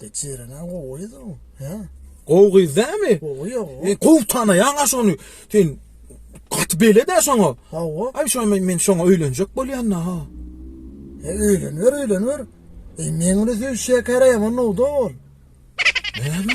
Geçirene gowy da. He. Gowy gyz dämi? Gowy ýok. E, gowy tanaýaň şony. Sen gaty belede şoňa. Hawa. Ay şoňa men, men şoňa öýlenjek bolýan da ha. E, öýlenwer, öýlenwer. E, men onu söýşýä käräýem onda ol. Näme?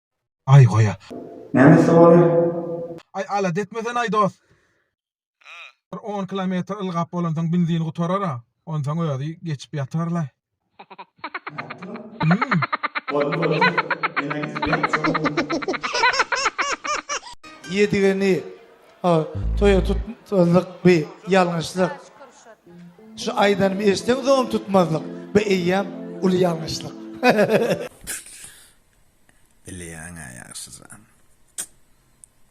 Aý goýa. Näme sowal? Aý alada etmesene-aý dost. Bir on kilometr ylgap bolansoň benzin gutarar-a, onsoň özi geçip ýatar-laý. Boldy boldy. Men aýdysy berk çogum. Ýedigeni toýa tutmazlyk bi ýalňyşlyk. Şu aýdanymy eşdeňsoňam tutmazlyk bi eýýäm uly ýalňyşlyk. Bilýäň-ä ýagşyja.